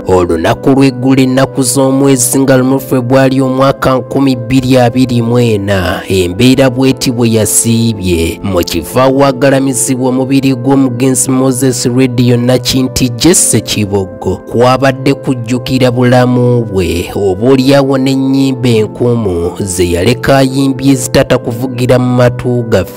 olunaku lw'eggula ennaku z'omwezi nga lumu febwali omwaka 2024 embeera bweti bwe yasiibye mu kifo awagalamizibwa omubiri gw'omugenzi moses radio nakinti jesse kiboggo kwabadde kujjukira bulamu bwe oba olyawo n'ennyimba enkumu ze yaleka ayimbye ezitata kuvugira mu matu gaffe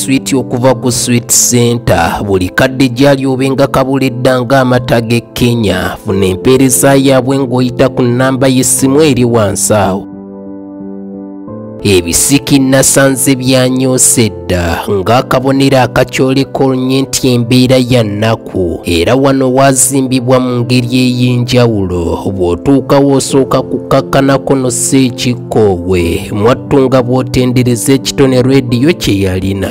swiiti okuva ku swiit center buli kadde gyali obenga kabulidda ng'amata g'e kenya funa empeereza yaabwe ng'oyita ku nnamba y'essimu eri wansi awo ebisiki nasanze byanyoosa edda ng'akabonero akakyoleka olunye nti embeera ya nnaku ku era wano waazimbibwa mu ngeri ey'enjawulo bw'otuukawo osooka kukkakkanako no seekikkoowe mwattu nga bw'otendereza ekitone rediyo kye yalina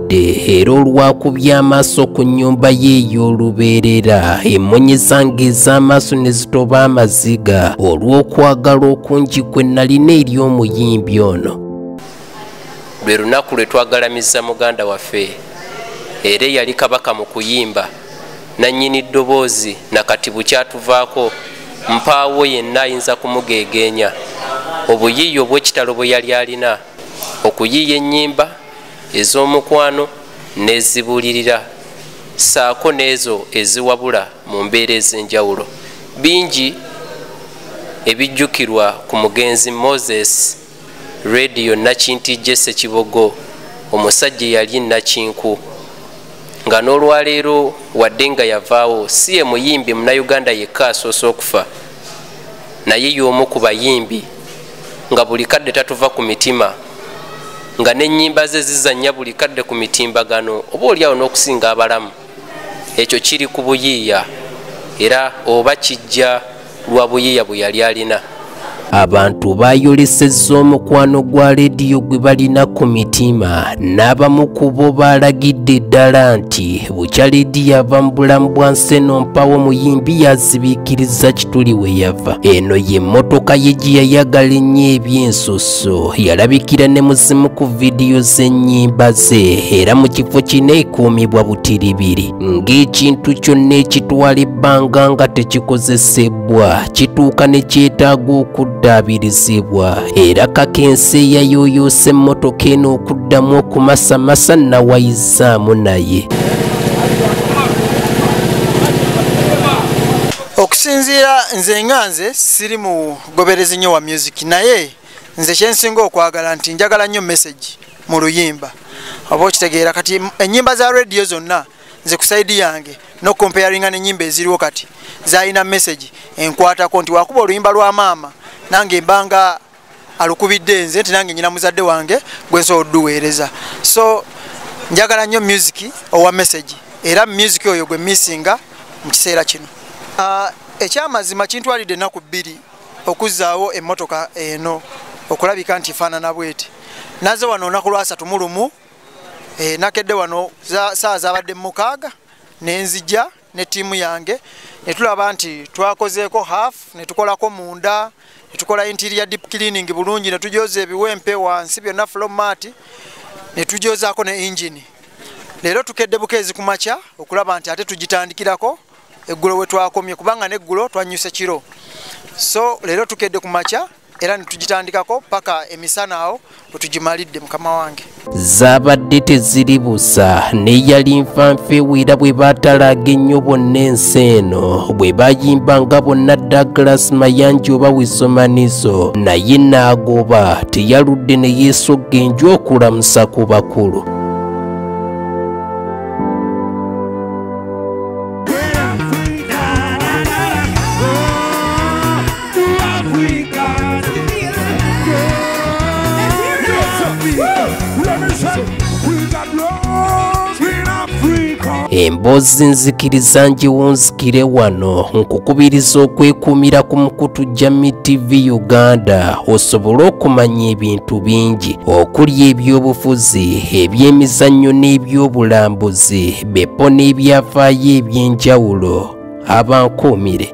mbadde era olwakubya amaaso ku nnyumba ye ey'olubeerera emmonye zange ez'amaaso ne zitoba amaziga olw'okwagala okungi kwe nalina eri omuyimbi ono lwe lunaku lwe twagalamiza muganda waffe era eyali kabaka mu kuyimba nannyini ddoboozi na kati bukyatuvaako mpaawo yenna ayinza kumugeegeenya obuyiiya obw'ekitalo bwe yali alina okuyiiya ennyimba ez'omukwano n'ezibuulirira saako n'ezo eziwabula mu mbeera ez'enjawulo bingi ebijjukirwa ku mugenzi moses rediyo nakinti jese kibogo omusajja eyali nakinku nga n'olwaleero wadde nga yavaawo si ye muyimbi munauganda yekka asoose okufa naye y'omu ku bayimbi nga buli kadde tatuva ku mitima nga n'ennyimba ze zizannya buli kadde ku mitimbagano oba oliawo n'okusinga abalamu ekyo kiri ku buyiiya era oba kijja lwa buyiiya bwe yali alina abantu bayolesezza omukwano gwa leediyo gwe balina ku mitima n'abamu ku bo baalagidde ddala nti bukya leedi yava mu bulamu bwa nseno mpawo omuyimbi yazibiikiriza kituli we yava eno y'emmotoka ye gye yayagala ennyo ebyensusso yalabikira ne mu zimu ku vidiyo z'ennyimba ze era mu kifo kino ekuumibwa butiribiri ng'ekintu kyonna ekitwala ebbanga nga tekikozesebwa kituuka ne kyetaaga okuddaabirizibwa era kakensi eyayooyoosa emmotoka eno okuddamu okumasamasa nawayiza saamu naye okusinziira nze nga nze siri mugoberezi nnyo wa music naye nze kyensinga okwagala nti njagala nnyo message mu luyimba oba okitegeera kati ennyimba za radio zonna nze ku saidi yange nokukomparinga nenyimba eziriwo kati zalina message enkwatako nti wakuba oluyimba lwa maama nange mbanga alukubidde nze nti nange nyina muzadde wange gwensobola oduweereza so njagala nnyo music owa message era music oyo gwe missinga mu kiseera kino uh, ekyamazima kintwalidde ennaku bbiri okuzzaawo emmotoka eno okulabika nti faanana bweti naze wano olunaku lwasatu mu lumu e, nakedde wano saawa zabadde mumukaaga nenzija ne tiimu yange ne tulaba nti twakozeeko half ne tukolako munda ne tukola interior deep cleaning bulungi ne tujooza ebiwempe wansi byonna flomaati ne tujoozaako ne ingini leero tukedde bukeezi ku makya okulaba nti ate tugitandikirako eggulo we twakomye kubanga n'eggulo twannyuse kiro so leero tukedde ku makya era netugitandikako paka emisana awo wetugimalidde mukama wange zaabadde teziri busa neyali nfanfeewera bwe baatalaaga ennyo bonna ensi eno bwe bayimba nga bonna douglas mayanji oba wisomaniso naye naagoba teyaludde ne yeesogga enju okulamusa ku bakulu emboozi nzikiriza ngiwunzikire wano nkukubiriza okwekuumira ku mukutu jami tv uganda osobole okumanya ebintu bingi okuli ebyobufuzi ebyemizannyo n'ebyobulambuzi bepo n'ebyafaayo ebyenjawulo abankuumire